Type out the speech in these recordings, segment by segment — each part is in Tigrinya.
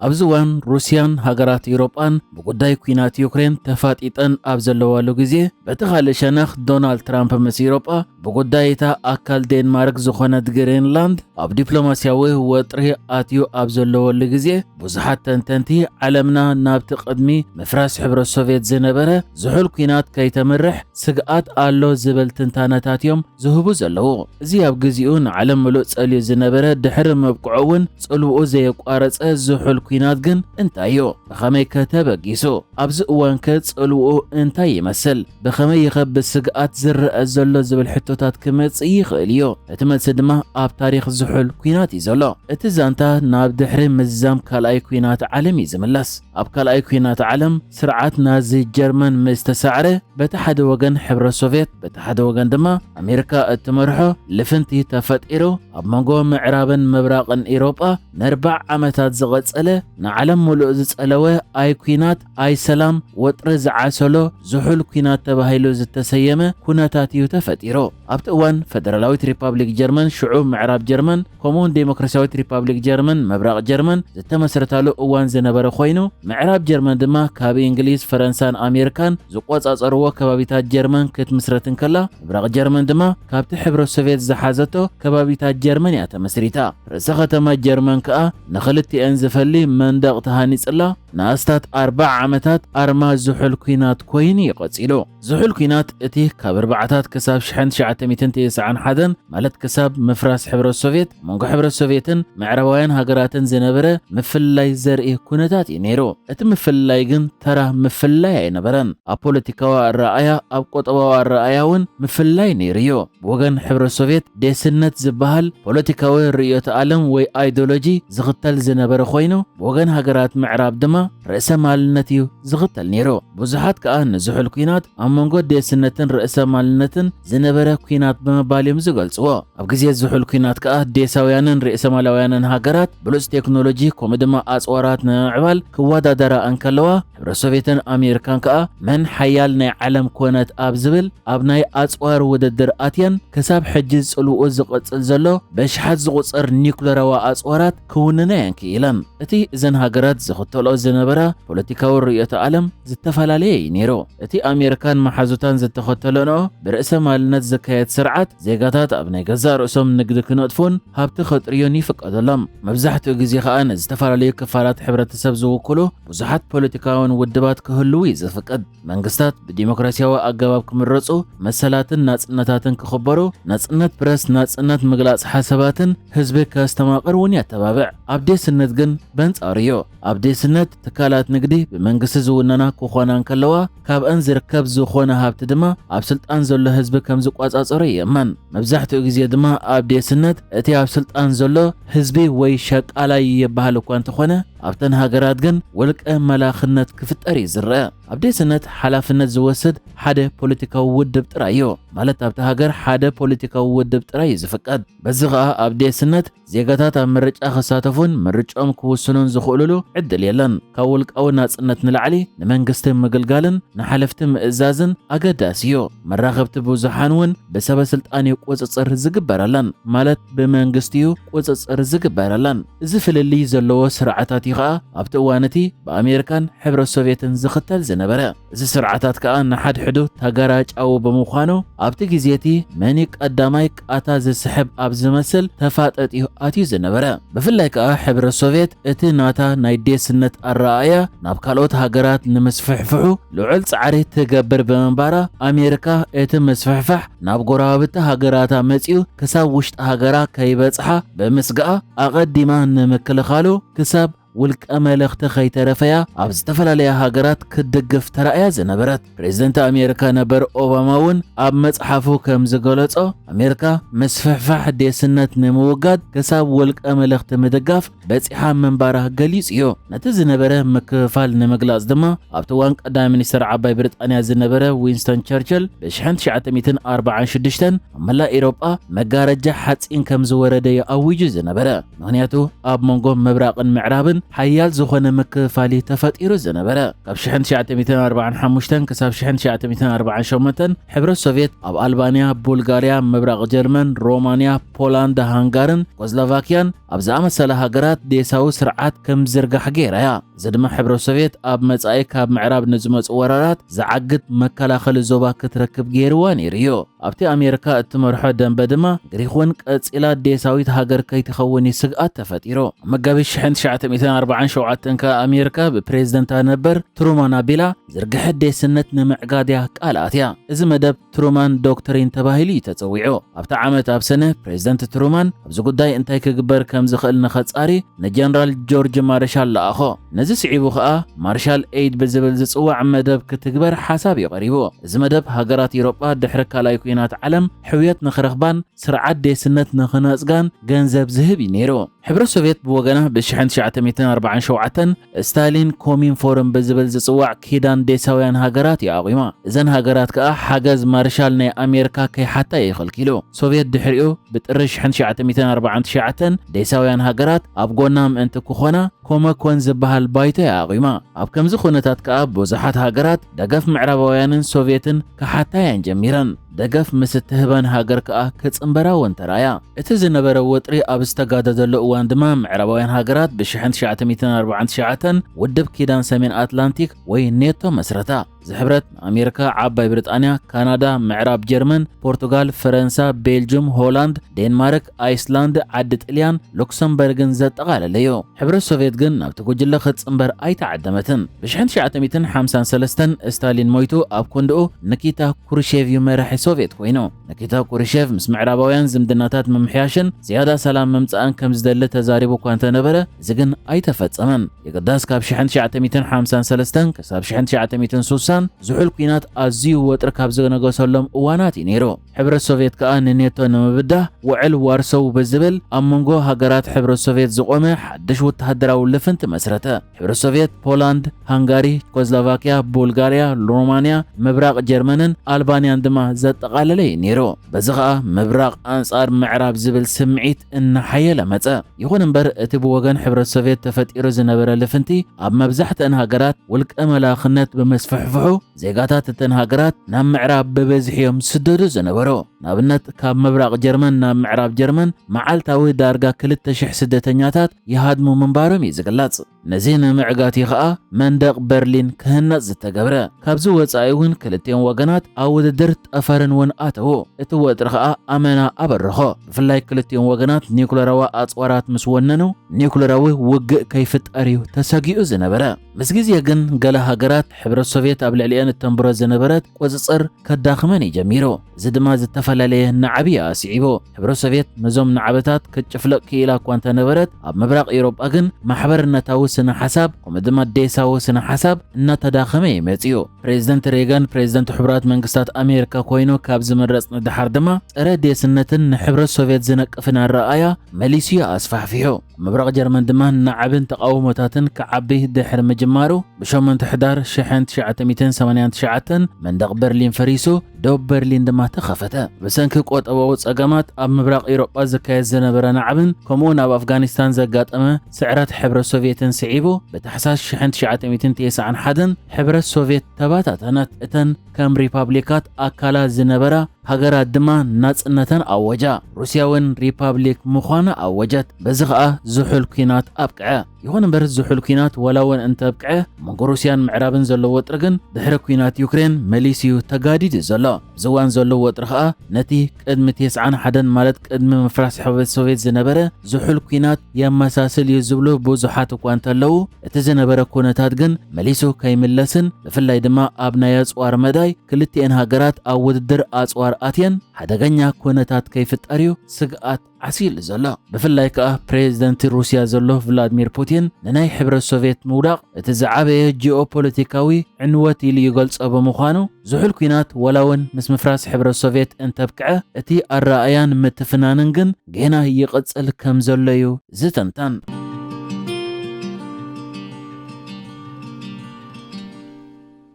ኣብዚ እዋን ሩስያን ሃገራት ኤውሮጳን ብጉዳይ ኲናት ዩክሬን ተፋጢጠን ኣብ ዘለዋሉ ግዜ በቲ ካልእ ሸነኽ ዶናልድ ትራምፕ ምስ ኤውሮጳ ብጉዳይ እታ ኣካል ዴንማርክ ዝኾነት ግሪንላንድ ኣብ ዲፕሎማስያዊ ወጥሪ ኣትዩ ኣብ ዘለወሉ ግዜ ብዙሓት ተንተንቲ ዓለምና ናብቲ ቅድሚ ምፍራስ ሕብረት ሶቭየት ዝነበረ ዝሑል ኲናት ከይተምርሕ ስግኣት ኣሎ ዝብል ትንታነታት እዮም ዝህቡ ዘለዉ። እዚ ኣብ ግዚኡ ንዓለም ምሉእ ጸልዩ ዝነበረ ድሕሪ ምብቅዑ እውን ጽልውኡ ዘየቋረጸ ዝሑል ኲናት ግን እንታይ እዩ? ብኸመይ ከ ተበጊሱ? ኣብዚ እዋን ከ ጽልውኡ እንታይ ይመስል? ብኸመይ ይኸ ብስግኣት ዝረኣ ዘሎ ዝብል ሕቶታት ክመጽእ ይኽእል እዩ። እቲ መልሲ ድማ ኣብ ታሪኽ ዝሑል ኲናት እዩ ዘሎ። እቲ ዛንታ ናብ ድሕሪ ምዛም ካልኣይ ኲናት ዓለም እዩ ዝምለስ። ኣብ ካልኣይ ኲናት ዓለም፣ ስርዓት ናዚ ጀርመን ምስ ተሳዕረ፣ በቲ ሓደ ወገን ሕብረት ሶቭየት በቲ ሓደ ወገን ድማ ኣሜሪካ እትመርሖ ልፍንቲ ተፈጢሩ፣ ኣብ መንጎ ምዕራብን ምብራቕን ኢሮጳ ነርባዕ ዓመታት ዝቐጸለ ንዓለም ምሉእ ዝጸለወ ኣይ ኩናት ኣይ ሰላም ወጥሪ ዝዓሰሎ ዝሑል ኩናት ተባሂሉ ዝተሰየመ ኩነታት እዩ ተፈጢሩ። ኣብቲ እዋን ፈደራላዊት ሪፓብሊክ ጀርመን፣ ሽዑ ምዕራብ ጀርመን፣ ከምኡውን ደሞክራስያዊት ሪፓብሊክ ጀርመን፣ ምብራቕ ጀርመን፣ ዝተመስረታሉ እዋን ዝነበረ ኮይኑ፣ ምዕራብ ጀርመን ድማ ካብ እንግሊዝ፣ ፈረንሳን ኣሜሪካን ዝቆጻጸርዎ ከባቢታት ጀርመን ክትምስረት እንከላ፣ ምብራቕ ጀርመን ድማ ካብቲ ሕብረት ሶቭየት ዝሓዘቶ ከባቢታት ጀርመን እያ ተመስሪታ። ርእሰ ከተማ ጀርመን ከኣ ንኽልቲኤን ዝፈሊ መንደቕ ተሃኒጽላ ንኣስታት ኣርብዓ ዓመታት ኣርማ ዝሑል ኲናት ኮይኑ እዩ ቀጺሉ። ዝሑል ኩናት እቲ ካብ ኣርባዓታት ክሳብ ሽሕን ትሽዓተ ሚእትን ትስዓን ሓደን ማለት ክሳብ ምፍራስ ሕብረት ሶቭየት ኣብ መንጎ ሕብረት ሶቭየትን ምዕራባውያን ሃገራትን ዝነበረ ምፍልላይ ዘርኢ ኩነታት እዩ ነይሩ። እቲ ምፍልላይ ግን ተራ ምፍልላይ ኣይነበረን። ኣብ ፖለቲካዊ ኣረኣእያ፣ ኣብ ቁጠባዊ ኣረኣእያ እውን ምፍልላይ ነይሩ እዩ። ብወገን ሕብረት ሶቭየት ዴስነት ዝበሃል ፖለቲካዊ ርእዮተ ኣለም ወይ ኣይዶሎጂ ዝኽተል ዝነበረ ኮይኑ ብወገን ሃገራት ምዕራብ ድማ ርእሰ ማልነት እዩ ዝኽተል ነይሩ። ብዙሓት ከኣ ንዝሑል ኩናት ኣብ መንጎ ዴስነትን ርእሰማልነትን ዝነበረ ኩናት ብምባል እዮም ዝገልጽዎ። ኣብ ግዜ ዝሑል ኩናት ከኣ ዴሳውያንን ርእሰማላውያንን ሃገራት ብሉጽ ቴክኖሎጂ ከምኡ ድማ ኣጽዋራት ንምምዕባል ክወዳደራ እንከለዋ፣ ሕብረት ሶቬትን ኣሜሪካን ከኣ መን ሓያል ናይ ዓለም ኮነት ኣብ ዝብል ኣብ ናይ ኣጽዋር ውድድር ኣትየን ክሳብ ሕጂ ጽልውኡ ዝቕጽል ዘሎ በሽሓት ዝቑጸር ኒዩክለራዊ ኣጽዋራት ክውንና እየን ክኢለን። እቲ እዘን ሃገራት ዝኽተልኦ ዝነበራ ፖለቲካዊ ርእዮተ ዓለም ዝተፈላለየ እዩ ነይሩ። እቲ ኣሜሪካን መሓዙታን ዝተኸተለንኦ ብርእሰ ማልነት ዝካየድ ስርዓት፣ ዜጋታት ኣብ ናይ ገዛእ ርእሶም ንግዲ ክነጥፉን ሃብቲ ከጥርዩን ይፍቀደሎም። መብዛሕትኡ ግዜ ከኣ ንዝተፈላለዩ ክፋላት ሕብረተሰብ ዝውክሉ ብዙሓት ፖለቲካውያን ውድባት ክህልዉ እዩ ዝፍቀድ። መንግስታት ብዲሞክራሲያዊ ኣገባብ ክምረጹ፣ መሰላትን ናጽነታትን ክኽበሩ፣ ናጽነት ፕረስ፣ ናጽነት ምግላጽ ሓሳባትን ህዝቢ ከስተማቕር እውን የተባብዕ። ኣብ ዴስነት ግን በንጻሩ እዩ። ኣብ ዴስነት ትካላት ንግዲ ብመንግስቲ ዝውነና ክኾና እንከለዋ፣ ካብኣን ዝርከብ ዝኾነ ሃብቲ ድማ ኣብ ስልጣን ዘሎ ህዝቢ ከም ዝቆጻጸሮ ይእመን። መብዛሕትኡ ግዜ ድማ ኣብ ዴስነት እቲ ኣብ ስልጣን ዘሎ ህዝቢ ወይ ሸቃላይ ይበሃል እኳ እንተኾነ፣ ኣብተን ሃገራት ግን ወልቀ መላኽነት ክፍጠር እዩ ዝረኣ። ኣብ ዴስነት ሓላፍነት ዝወስድ ሓደ ፖለቲካዊ ውድብ ጥራይ እዩ። ማለት ኣብታ ሃገር ሓደ ፖለቲካዊ ውድብ ጥራይ እዩ ዝፍቀድ። በዚ ኸኣ ኣብ ዴስነት ዜጋታት ኣብ ምርጫ ክሳተፉን ምርጭኦም ክውስኑን ዝኽእሉሉ ዕድል የለን። ካብ ውልቃዊ ናጽነት ንላዕሊ ንመንግስቲ ምግልጋልን ንሓለፍቲ ምእዛዝን ኣገዳሲ እዩ። መራኸብቲ ብዙሓን እውን ብሰበ ስልጣን እዩ ቁጽጽር ዝግበረለን። ማለት ብመንግስቲ እዩ ቁጽጽር ዝግበረለን። እዚ ፍልልይ ዘለዎ ስርዓታት እዩ ከኣ ኣብቲ እዋን እቲ ብኣሜሪካን ሕብረት ሶቭየትን ዝኽተል ዝነበረ። እዚ ስርዓታት ከኣ ንሓድሕዱ ተገራጫዊ ብምዃኑ ኣብቲ ግዜ እቲ መን እዩ ቀዳማይ ቃታ ዝስሕብ ኣብ ዝመስል ተፋጠጥ እዩ ኣትዩ ዝነበረ። ብፍላይ ከኣ ሕብረት ሶቭየት እቲ ናታ ናይ ዴስነት ኣረኣእያ ናብ ካልኦት ሃገራት ንምስፍሕፍሑ ልዑል ጻዕሪ ትገብር ብምንባራ ኣሜሪካ እቲ ምስፍሕፋሕ ናብ ጎረባብቲ ሃገራታ መጺኡ ክሳብ ውሽጢ ሃገራ ከይበጽሓ ብምስጋኣ ኣቐዲማ ንምክልኻሉ ክሳብ ውልቀ መለኽቲ ከይተረፈያ ኣብ ዝተፈላለያ ሃገራት ክትድግፍ ተራእያ ዝነበረት ፕሬዝደንት ኣሜሪካ ነበር ኦባማ እውን ኣብ መጽሓፉ ከም ዝገለጾ ኣሜሪካ ምስፍሕፋሕ ዴስነት ንምውጋድ ክሳብ ውልቀ መለኽቲ ምድጋፍ በጺሓ ምንባራ ገሊጹዮ። ነቲ ዝነበረ ምክፍፋል ንምግላጽ ድማ ኣብቲ እዋን ቀዳማይ ሚኒስተር ዓባይ ብሪጣንያ ዝነበረ ዊንስተን ቸርችል ብሽሕን ትሽዓተ ሚእትን ኣርባዓን ሽዱሽተን ኣብ መላእ ኤሮጳ መጋረጃ ሓጺን ከም ዝወረደዮ ኣዊጁ ዝነበረ። ምክንያቱ ኣብ መንጎ ምብራቕን ምዕራብን ሓያል ዝኾነ ምክፍፋልዩ ተፈጢሩ ዝነበረ። ካብ ሽሕን ትሽዓተ ሚእትን ኣርባዓን ሓሙሽተን ክሳብ ሽሕን ትሽዓተ ሚእትን ኣርባዓን ሸሞንተን ሕብረት ሶቭየት ኣብ ኣልባንያ፣ ቡልጋርያ፣ ምብራቕ ጀርመን፣ ሮማንያ፣ ፖላንድ፣ ሃንጋርን ቆዝላቫክያን ኣብ ዝኣመሰላ ሃገራት ዴሳዊ ስርዓት ከም ዝዝርጋሕ ገይራ እያ። እዚ ድማ ሕብረት ሶቭየት ኣብ መጻኢ ካብ ምዕራብ ንዝመጹ ወራራት ዝዓግት መከላኸሊ ዞባ ክትረክብ ገይርዋ ነይሩ እዩ። ኣብቲ ኣሜሪካ እትመርሖ ደምበ ድማ ግሪኽ እውን ቀጺላ ዴሳዊት ሃገር ከይትኸውን እዩ ስግኣት ተፈጢሩ። ኣብ መጋቢት ሽሕን ትሽዓተ ሚእትን ኣርብዓን ሸውዓተን ከኣ ኣሜሪካ ብፕሬዝደንታ ነበር ትሩማን ኣቢላ ዝርግሐ ዴስነት ንምዕጋድ እያ ቃልኣት እያ። እዚ መደብ ትሩማን ዶክትሪን ተባሂሉ እዩ ተጸዊዑ። ኣብቲ ዓመት ኣብ ሰነ፣ ፕሬዝደንት ትሩማን ኣብዚ ጉዳይ እንታይ ክግበር ከም ዝኽእል ንኸጻሪ ንጀነራል ጆርጅ ማርሻል ለኣኾ። ነዚ ስዒቡ ከኣ ማርሻል ኤይድ ብዝብል ዝጽዋዕ መደብ ክትግበር ሓሳብ እዩ ቀሪቡ። እዚ መደብ ሃገራት ኢሮጳ ድሕሪ ካልኣይ ኩናት ዓለም ሕውየት ንኽረኽባን ስርዓት ዴስነት ንኽነጽጋን ገንዘብ ዝህብ እዩ ነይሩ። ሕብረት ሶቭየት ብወገና ብ1947 ስታሊን ኮሚን ፎርም ብዝብል ዝጽዋዕ ኪዳን ዴሳውያን ሃገራት እዩ ኣቑማ። እዘን ሃገራት ከኣ ሓገዝ ማርሻል ናይ ኣሜርካ ከይሓታ እዩ ከልኪሉ። ሶቭየት ድሕሪኡ ብጥሪ ሽሕን ትሽዓተ ሚእትን ኣርባዓን ትሽዓተን ዴሳውያን ሃገራት ኣብ ጎና ምእንቲ ክኾና ኮመኮን ዝበሃል ባይቶ እያ ኣቑማ። ኣብ ከምዚ ኩነታት ከኣ ብዙሓት ሃገራት ደገፍ ምዕራባውያንን ሶቭየትን ክሓታ እየን ጀሚረን። ደገፍ ምስ እትህበን ሃገር ከኣ ክጽንበራ እውን ተራእያ። እቲ ዝነበረ ወጥሪ ኣብ ዝተጋደደሉ እዋን ድማ ምዕራባውያን ሃገራት ብሽሕን ትሽዓተ ሚእትን ኣርብዓን ትሽዓተን ውድብ ኪዳን ሰሜን ኣትላንቲክ ወይ ኔቶ መስረታ። ዝሕብረት ንኣሜርካ፣ ዓባይ ብሪጣንያ፣ ካናዳ፣ ምዕራብ ጀርመን፣ ፖርቱጋል፣ ፈረንሳ፣ ቤልጁም፣ ሆላንድ፣ ዴንማርክ፣ ኣይስላንድ ዓዲ ጥልያን ሉክሰምበርግን ዘጠቓለለ እዩ። ሕብረት ሶቭየት ግን ናብቲ ጉጅለ ክትጽንበር ኣይተዓደመትን። ብሽሕን ትሽዓተ ሚእትን ሓምሳን ሰለስተን ስታሊን ሞይቱ ኣብ ኮንድኡ ንኪታ ኩሩሼቭ እዩ መራሒ ሶቭየት ኮይኑ። ንኪታ ኩሩሼቭ ምስ ምዕራባውያን ዝምድናታት ምምሕያሽን ዝያዳ ሰላም ምምጻእን ከም ዝደሊ ተዛሪቡ እኳ እንተነበረ እዚ ግን ኣይተፈጸመን። የግዳስ ካብ ሽሕን ትሽዓተ ሚእትን ሓምሳን ሰለስተን ክሳብ ሽሕን ትሽዓተ ሚእትን ሱሳን ዝሑል ኲናት ኣዝዩ ወጥሪ ካብ ዝነገሰሎም እዋናት እዩ ነይሩ። ሕብረት ሶቭየት ከኣ ንኔቶ ንምብዳህ ውዕል ዋርሶው ብዝብል ኣብ መንጎ ሃገራት ሕብረት ሶቭየት ዝቖመ ሓድሽ ወተሃደራዊ ልፍንቲ መስረተ። ሕብረት ሶቭየት ፖላንድ፣ ሃንጋሪ፣ ቸኮስሎቫክያ፣ ቡልጋርያ፣ ሮማንያ፣ ምብራቕ ጀርመንን ኣልባንያን ድማ ዘጠቓለለ እዩ ነይሩ። በዚ ኸኣ ምብራቕ ኣንጻር ምዕራብ ዝብል ስምዒት እናሓየለ መጸ። ይኹን እምበር እቲ ብወገን ሕብረት ሶቭየት ተፈጢሩ ዝነበረ ልፍንቲ ኣብ መብዛሕትአን ሃገራት ውልቀ መላኽነት ብምስፍሕፍሑ፣ ዜጋታት እተን ሃገራት ናብ ምዕራብ ብበዝሒ እዮም ዝስደዱ ዝነበሩ። ንኣብነት ካብ ምብራቕ ጀርመን ናብ ምዕራብ ጀርመን መዓልታዊ ዳርጋ 2,000 ስደተኛታት ይሃድሙ ምንባሮም እዩ ዝግለጽ። ነዚ ንምዕጋት እዩ ኸኣ መንደቕ በርሊን ክህነጽ ዝተገብረ። ካብዚ ወጻኢ እውን ክልቲኦም ወገናት ኣብ ውድድር ጠፈርን እውን ኣተዉ። እቲ ወጥሪ ኸኣ ኣመና ኣበረኾ። ብፍላይ ክልቲኦም ወገናት ኒዩክለራዊ ኣጽዋራት ምስ ወነኑ ኒዩክለራዊ ውግእ ከይፍጠር እዩ ተሰጊኡ ዝነበረ። ምስ ግዜ ግን ገለ ሃገራት ሕብረት ሶቭየት ኣብ ልዕሊኤን እተንብሮ ዝነበረት ቁጽጽር ከዳኽመን እዩ ጀሚሩ። እዚ ድማ ዝተፈላለየ ናዕቢ እዩ ኣስዒቡ። ሕብረት ሶቭየት ነዞም ናዕብታት ክትጭፍልቕ ክኢላ እኳ እንተ ነበረት፣ ኣብ ምብራቕ ኤውሮጳ ግን ማሕበርነታዊ ስነ-ሓሳብ ከምኡ ድማ ዴሳዊ ስነ-ሓሳብ እናተዳኸመ እዩ መጺኡ። ፕሬዝደንት ሬገን ፕሬዝደንት ሕቡራት መንግስታት ኣሜሪካ ኮይኑ ካብ ዝምረጽ ንደሓር ድማ ጸረ-ዴስነትን ንሕብረት ሶቭየት ዝነቅፍን ኣረኣእያ መሊሱ እዩ ኣስፋሕፊሑ። ምብራቕ ጀርመን ድማ ናዕብን ተቓውሞታትን ክዓቢ ድሕሪ ምጅማሩ፣ ብሸሞንተ ሕዳር ሽሕን ትሽዓተ ሚእትን ሰማንያን ትሽዓተን መንደቕ በርሊን ፈሪሱ፣ ዶብ በርሊን ድማ ተኸፈተ። ብሰንኪ ቈጠባዊ ጸገማት ኣብ ምብራቕ ኤውሮጳ ዝካየድ ዝነበረ ናዕብን ከምኡውን ኣብ ኣፍጋኒስታን ዘጋጠመ ስዕረት ሕብረት ሶቭየትን ስዒቡ፣ ብታሕሳስ ሽሕን ትሽዓተ ሚእትን ቴስዓን ሓደን ሕብረት ሶቭየት ተበታተነት። እተን ከም ሪፓብሊካት ኣካላት ዝነበራ ሃገራት ድማ ናጽነተን ኣወጃ። ሩስያ እውን ሪፓብሊክ ምዃና ኣወጀት። በዚ ኸኣ ዝሑል ኲናት ኣብቅዐ። ይኹን እምበር ዝሑል ኲናት ዋላ እውን እንተኣብቅዐ፣ ኣብ መንጎ ሩስያን ምዕራብን ዘሎ ወጥሪ ግን ድሕሪ ኲናት ዩክሬን መሊሱ እዩ ተጋዲዱ ዘሎ። ኣብዚ እዋን ዘሎ ወጥሪ ኸኣ ነቲ ቅድሚ ቴስዓን ሓደን ማለት ቅድሚ ምፍራስ ሕብረት ሶቭየት ዝነበረ ዝሑል ኲናት የመሳስል እዩ ዝብሉ ብዙሓት እኳ እንተለዉ፣ እቲ ዝነበረ ኩነታት ግን መሊሱ ከይምለስን ብፍላይ ድማ ኣብ ናይ ኣጽዋር መዳይ ክልቲኤን ሃገራት ኣብ ውድድር ኣጽዋር ኣትየን ሓደገኛ ኩነታት ከይፍጠር እዩ ስግኣት ዓሲሉ ዘሎ ብፍላይ ከኣ ፕሬዝደንት ሩስያ ዘሎ ቭላድሚር ፑቲን ንናይ ሕብረት ሶቭየት ምውዳቕ እቲ ዝዓበየ ጂኦፖለቲካዊ ዕንወት ኢሉ ይገልጾ ብምዃኑ ዝሑል ኩናት ዋላ እውን ምስ ምፍራስ ሕብረት ሶቭየት እንተብቅዐ እቲ ኣረኣእያን ምትፍናንን ግን ጌና ይቕጽል ከም ዘሎ'ዩ ዝተንተን።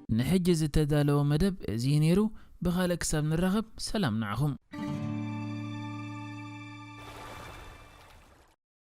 ንሕጂ ዝተዳለወ መደብ እዚ'ዩ ነይሩ። ብኻልእ ክሳብ ንራኸብ ሰላም ንዓኹም።